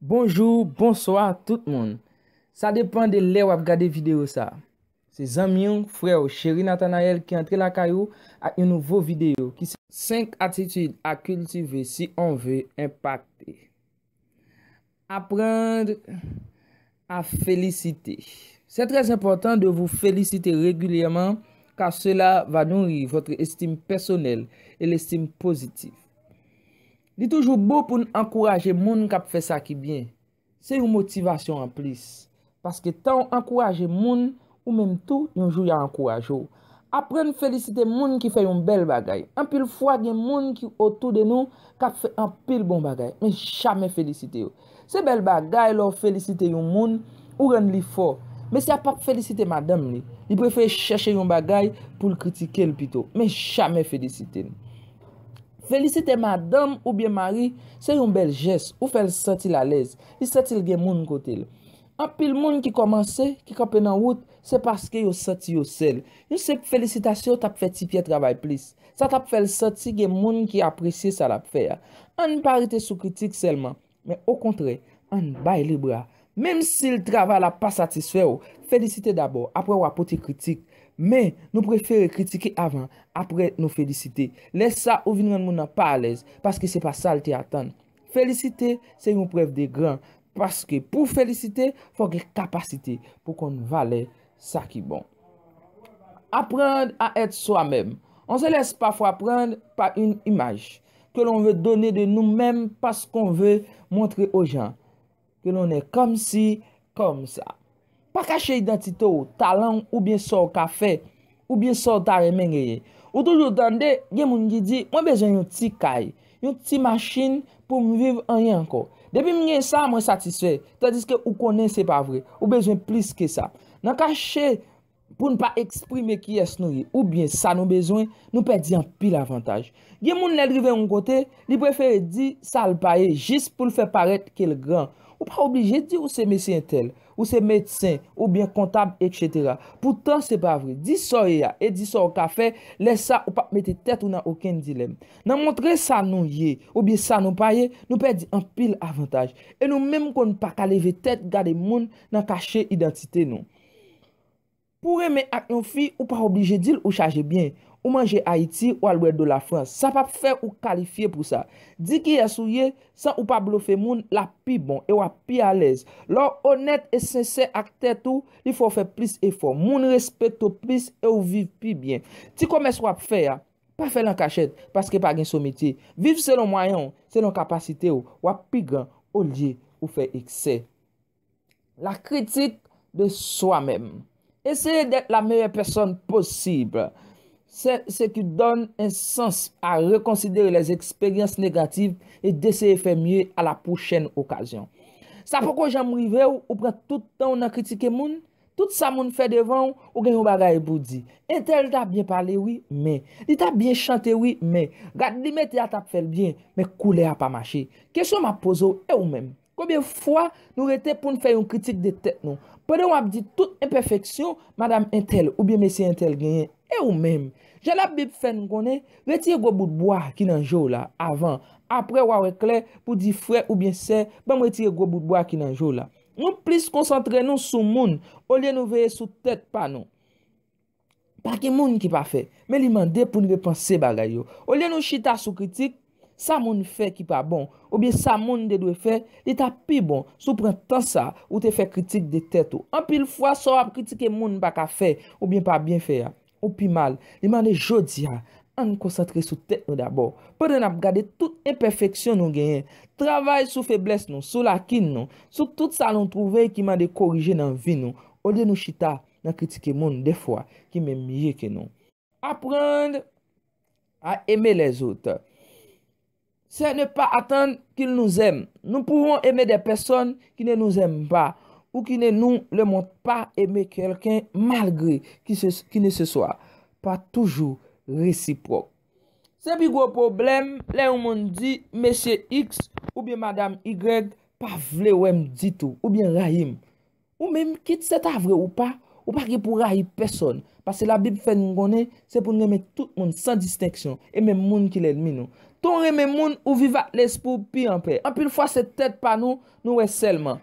Bonjou, bonswa tout moun. Sa depan de lè wap gade video sa. Se zanmi w, frè w Chery Nathanael ki antre lakay ou ak yon nouvo video ki se. 5 atitid a kiltive si on ve enpakte. Apprendre à féliciter. Se trè enpòtan de vou felisite regilyèman kar sela va nouri votre estime pèsonèl e lestim pozitif. Li toujou bon pou n ankouraje moun k ap fè sa ki byen. Se yon motivasyon anplis. Paske tan w ankouraje moun, ou menm tou, yon jou y a ankouraje w. Aprann felisite moun ki fè yon bèl bagay. Anpil fwa gen moun ki otou de nou k ap fè anpil bon bagay, men jamè felisite yo. Se bèl bagay lè w felisite yon moun, ou rann li fò. Mesye a pap felisite madanm li. Li prefere chèche yon bagay pou l kritike l pito. Men jamè felisite l. Felisite madanm oubyen mari se yon bèl jès, ou fè l santi l alèz, li santi l gen moun kote l. Anpil moun ki kòmanse, ki kanpe nan wout, se paske yo santi yo sèl. Yon senp felisitasyon t ap fè ti Pyè travay plis. Sa t ap fè l santi gen moun ki apresye sa l ap fè a. Ann pa rete sou kritik sèlman, men okontrè, ann bay li bra. Menm si l travay la pa satisfè w, felisite dabò, apre w a pote kritik. Men, nou prefere kritike avan, apre nou felisite. Lè sa, ou vin rann moun nan pa alèz, paske se pa sa l te atann. Felisite se yon prèv de gran, paske pou felisite fò gen kapasite pou konn valè sa ki bon. Apprendre à être soi-même. On se laisse parfois prendre par une image que l'on veut donner de nous-mêmes parce qu'on veut montrer aux gens. Ke lonè kòmsi kòmsa. Pa kache idantite w, talan w oubyen sa w ka fè, oubyen sa w ta renmen genyen. Ou toujou tande gen moun ki di mwen bezwen yon ti kay, yon ti machin pou m viv anyen ankò. Depi m gen sa mwen satisfè. Tandiske ou konnen se pa vre. Ou bezwen plis ke sa. Nan kache. Pou n pa eksprime kiyès nou ye oubyen sa nou bezwen, nou pèdi anpil avantaj. Gen moun lè l rive yon kote, li prefere di sa l pa ye jis pou l fè parèt ke l gran. Ou pa oblije di ou se mesye entèl, ou se medsen, oubyen kontab etsetera. Poutan se pa vre. Di sa w ye a e di sa w ka fè, lè sa ou pap mete tèt ou nan okenn dilèm. Nan montre sa nou ye oubyen sa nou pa ye, nou pèdi anpil avantaj. E nou menm konn pa ka leve tèt gade moun nan kache idantite nou. Pou renmen ak yon fi ou pa oblije dil ou chaje byen, ou manje Ayiti ou al bwè dlo la Frans, sa pap fè ou kalifye pou sa. Di kiyès ou ye san ou pa blofe moun lap pi bon e wap pi alèz. Lè w onèt e sensè ak tèt ou li fè w fè plis efò, moun respekte w plis e w viv pi byen. Ti komès wap fè a, pa fèl an kachèt paske pa gen sometye. Viv selon mwayen w, selon kapasite w, wap pi gran olye ou fè eksè. La critique de soi même. Eseye d'être la meilleure personne possible. C'est ce qui donne un sens à reconsidérer les expériences négatives et d'essayer faire mieux à la prochaine occasion. Sa poko janm rive w, ou pran tout tan w nan kritike moun? Tout sa moun fè devan w, ou gen yon bagay pou w di. Entèl ta byen pale wi, men. Li ta byen chante wi, men. Rad li mete a t ap fè l byen, men koulè a pa mache. Kesyon m ap poze w, e ou menm? Konbyen fwa nou rete poun fè yon kritik de tèt nou. Pandan wap di tout enpèfeksyon madam entèl oubyen mesye entèl genyen. E ou menm? Jan labib fèn konnen, retire gwo bout bwa ki nan je w la avan, aprè wa wè klè pou di frè oubyen sè banm retire gwo bout bwa ki nan je w la. Nou plis konsantre nou sou moun olye nou veye sou tèt pa nou. Pa gen moun ki pafè, men li mande pou n repanse bagay yo. Olye nou chita sou kritik, sa moun fè ki pa bon, oubyen sa moun te dwe fè, li ta pi bon si w pran tan sa ou te fè kritik de tèt ou. Anpil fwa sa w ap kritike moun pa ka fè, oubyen pa byen fè a, ou pi mal. Li mande jodi a, an n konsantre sou tèt nou dabò, pandan n ap gade tout enpèfeksyon nou genyen. Travay sou feblès nou, sou lakin nou, sou tout sa nou twouve ki mande korije nan vi nou, olye nou chita Nan kritike moun, dèfwa, ki menm mye ke nou. Aprann a eme lèzot. Sè ne pa atann ki l nou zèm. Nou pouwon eme dè pèsòn ki ne nou zèm pa, ou ki ne nou le mond pa eme kèlken malgre ki ne se swa. Pa toujou resipwòk. Se pi gwo pwoblèm lè yon moun di Mesye X oubyen Madam Y pa vle wè m ditou oubyen rayi m. Ou menm, kit se ta vre ou pa, ou pa gen pou rayi pèsòn, paske Labib fè nou konnen se pou n renmen tout moun san distenksyon, e menm moun ki lènmi nou. Tan w renmen moun, ou viv ak lespri w pi anpè. Anpil fwa se tèt pa nou nou wè sèlman.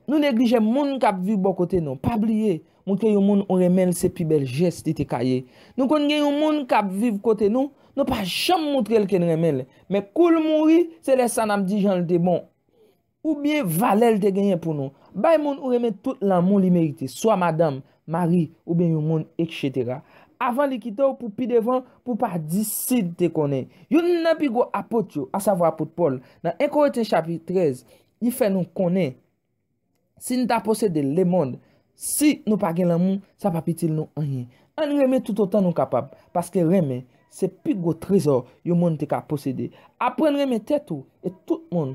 Nou neglije moun k ap viv bò kote nou. Pa bliye, montre yon moun ou renmen l se pi bèl jès li te ka ye. Nou konn gen yon moun k ap viv kote nou, nou pa janm montre l ke n renmen l, men kou l mouri, se lè sa n ap di jan l te bon. Oubyen valè l te genyen pou nou. Bay moun ou renmen tout lanmou li merite, swa madanm, mari, oubyen yon moun, eksetera. Avan li kite w pou pi devan, pou w pa di si l te konnen. Youn nan pi gwo apot yo, asavwa apot Pòl, nan 1 Korentyen chapit 13, li fè nou konnen, Si n ta posede lemonn, si nou pa gen lanmou, sa p ap itil nou anyen. Ann renmen toutotan nou kapab, paske renmen se pi gwo trezò yon moun te ka posede. Aprann renmen tèt ou e tout moun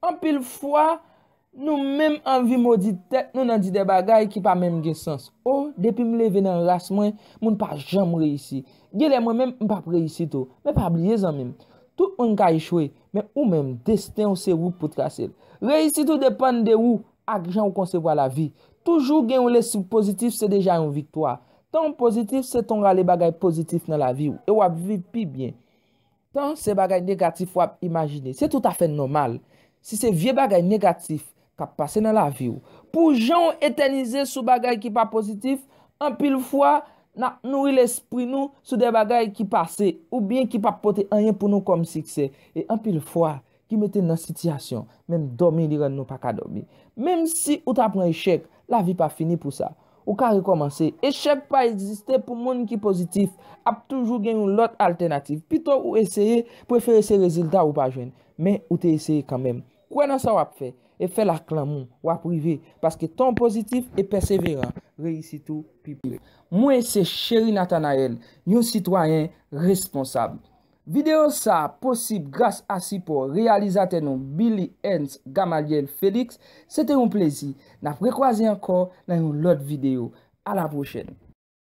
Anpil fwa, nou menm anvi modi tèt nou nan di de bagay ki pa menm gen sans. O, depi m leve nan ras mwen, moun pa janm reyisi. Genlè mwen menm m p ap reyisi tou. Men pa bliye zanmi m, tout moun ka echwe, men ou menm, desten w se ou k pou trase l. Reyisit ou depann de ou ak jan ou konsevwa lavi. Toujou gen yon lespri pozitif se deja yon viktwa. Tan w pozitif se tan w rale bagay pozitif nan lavi w e w ap viv pi byen. Tan se bagay negatif w ap imajine. Se tout afè nòmal. Si se vye bagay negatif k ap pase nan lavi w, pou jan w etènize sou bagay ki pa pozitif, anpil fwa, n ap nouri lespri nou sou de bagay ki pase, oubyen ki pa pote anyen pou nou kòm siksè. E anpil fwa, Ki mete n nan sitiyasyon, menm dòmi li rann nou pa ka dòmi. Menm si ou ta pran echèk, lavi pa fini pou sa. Ou ka rekòmanse. Echèk pa egziste pou moun ki pozitif. Ap toujou gen yon lòt altènativ. Pito ou eseye, prefere se rezilta ou pa jwenn. Men, ou te eseye kanmenm. Kwè nan sa w ap fè, e fè l ak lanmou. W ap rive, paske tan w pozitif e pèseveran, reyisit ou pi pre. Mwen se Chery Nathanaël, yon sitwayen responsab. Videyo sa a posib gras a sipò reyalizatè nou Billy Ernst Gamaliel Felix, se te yon plezi, n ap rekwaze ankò nan yon lòt videyo. A la pwochèn!